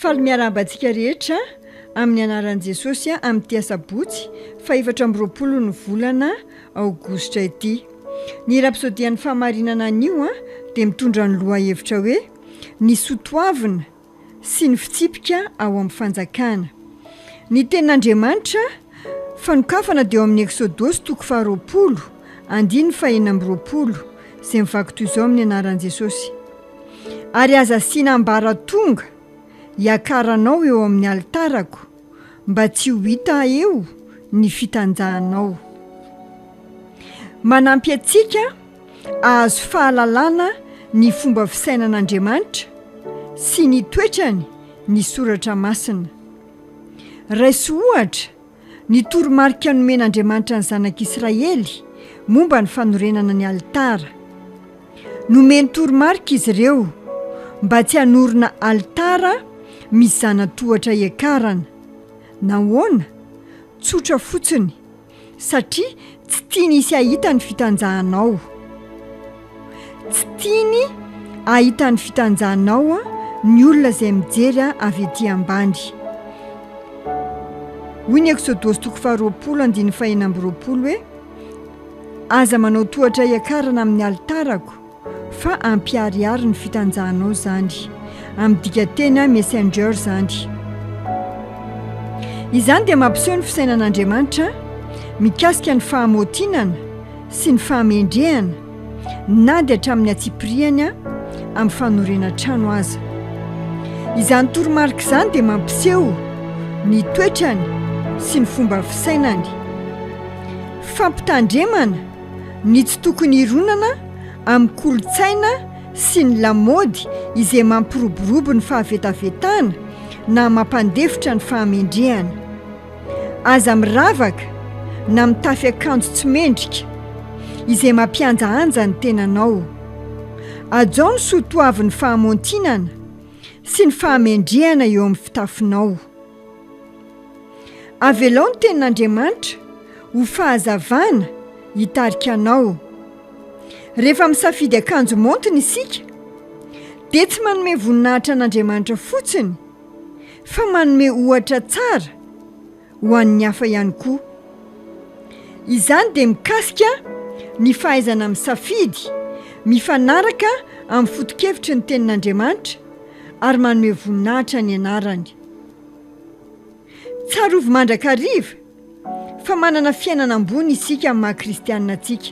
Faly miarahaba antsika rehetra amin'ny anaran'i Jesosy amin'ity asabotsy fahefatra amby roapolo ny volana aogositra ity. Ny rapsodian'ny fahamarinana anio dia mitondra ny lohahevitra hoe Ny soa toavina sy ny fitsipika ao amin'ny fanjakana. Ny tenin'Andriamanitra fanokafana dia ao amin'ny Eksodosy toko faharoapolo andininy fahenina amby roapolo izay mivaky toy izao amin'ny anaran'i Jesosy. Ary aza asiana ambaratonga hiakaranao eo amin'ny alitarako, mba tsy ho hita eo ny fitanjahanao. Manampy antsika hahazo fahalalana ny fomba fisainan'Andriamanitra sy ny toetrany ny Soratra Masina. Raiso ohatra Ny toromarika nomen'Andriamanitra ny zanak'Israely momba ny fanorenana ny alitara. Nomeny toromarika izy ireo mba tsy hanorina alitara misy zana-tohatra hiakarana. Nahoana? Tsotra fotsiny, satria Tsy tiany hisy hahita ny fitanjahanao. Tsy tiany hahita ny fitanjahanao ny olona izay mijery ahy avy ety ambany. Hoy ny Eksodosy toko faharoapolo andininy fahenina amby roapolo hoe, Aza manao tohatra hiakarana amin'ny alitarako, Fa ampiharihary ny fitanjahanao zany. Amin'ny dikanteny messenger zany. Izany dia mampiseho ny fisainan'Andriamanitra mikasika ny fahamaotinana sy ny fahamendrehana na dia hatramin'ny antsipirihany amin'ny fanorenana trano aza. Izany toromarika izany dia mampiseho ny toetrany sy ny fomba fisainany. Fampitandremana. ny tsy tokony hironana amin'ny kolontsaina sy ny lamaody izay mampiroborobo ny fahavetavetana na mampandefitra ny fahamendrehana. Aza miravaka na mitafy akanjo tsy mendrika, izay mampihanjahanja ny tenanao. Ajao ny soa toavin'ny fahamontinana sy ny fahamendrehana eo amin'ny fitafinao. Avelao ny tenin'Andriamanitra ho fahazavana hitarika anao. Rehefa misafidy akanjo maontina isika, dia tsy manome voninahitra an'Andriamanitra fotsiny, fa manome ohatra tsara ho an'ny hafa ihany koa. Izany dia mikasika ny fahaizana misafidy mifanaraka amin'ny foto-kevitry ny tenin'Andriamanitra ary manome voninahitra ny anarany. Tsarovy mandrakariva fa manana fiainana ambony isika amin'ny maha kristianina antsika.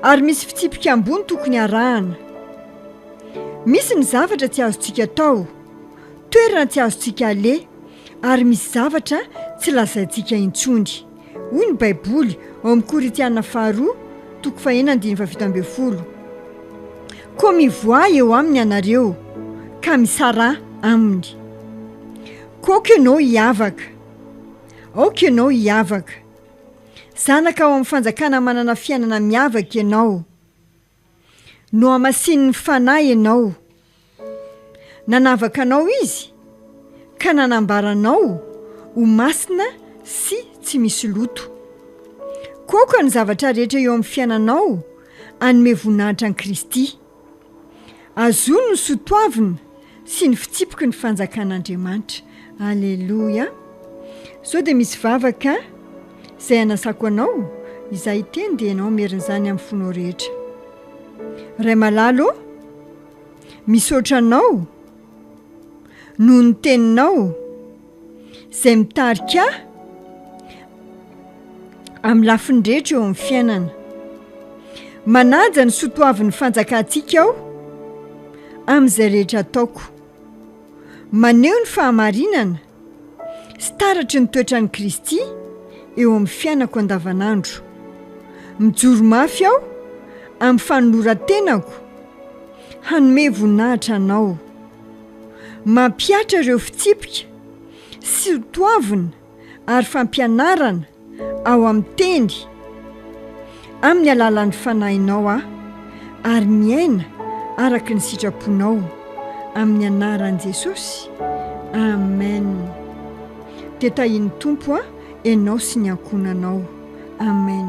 Ary misy fitsipika ambony tokony harahana. Misy ny zavatra tsy azontsika atao, toerana tsy azontsika aleha ary misy zavatra tsy lazaintsika intsony. Hoy ny Baiboly ao amin'ny Korintiana Faharoa toko fahenina andininy fahafito ambin'ny folo, Koa mivoaha eo aminy ianareo ka misaraha aminy. Koa aoka ianao hiavaka. Aoka ianao hiavaka. Zanaka ao amin'ny fanjakana manana fiainana miavaka ianao. Nohamasinin'ny Fanahy ianao. Nanavaka anao Izy ka nanambara anao ho masina sy tsy misy loto. Koka ny zavatra rehetra eo amin'ny fiainanao hanome voninahitra an'i Kristy. Azony ny soa toavina sy ny fitsipiky ny fanjakan'Andriamanitra. Aleloia. Sao dia misy vavaka izay anasako anao, izaho hiteny dia ianao merina izany amin'ny fonao rehetra. Ray malala ô, misaotra anao noho ny teninao. Izay mitarika ahy amin'ny lafiny rehetra eo amin'ny fiainana. Manaja ny soa toavin'ny fanjakantsika aho amin'izay rehetra ataoko. Maneho ny fahamarinana sy taratry ny toetran'i Kristy eo amin'ny fiainako andavanandro. Mijoro mafy aho amin'ny fanoloran-tenako hanome voninahitra Anao. Mampihatra ireo fitsipika sy ho toavina ary fampianarana ao amin'ny teny amin'ny alalan'ny Fanahinao aho ary miaina araka ny sitraponao amin'ny anaran'i Jesosy Amen Dia tahian'ny Tompo aho, ianao sy ny ankohonanao Amen.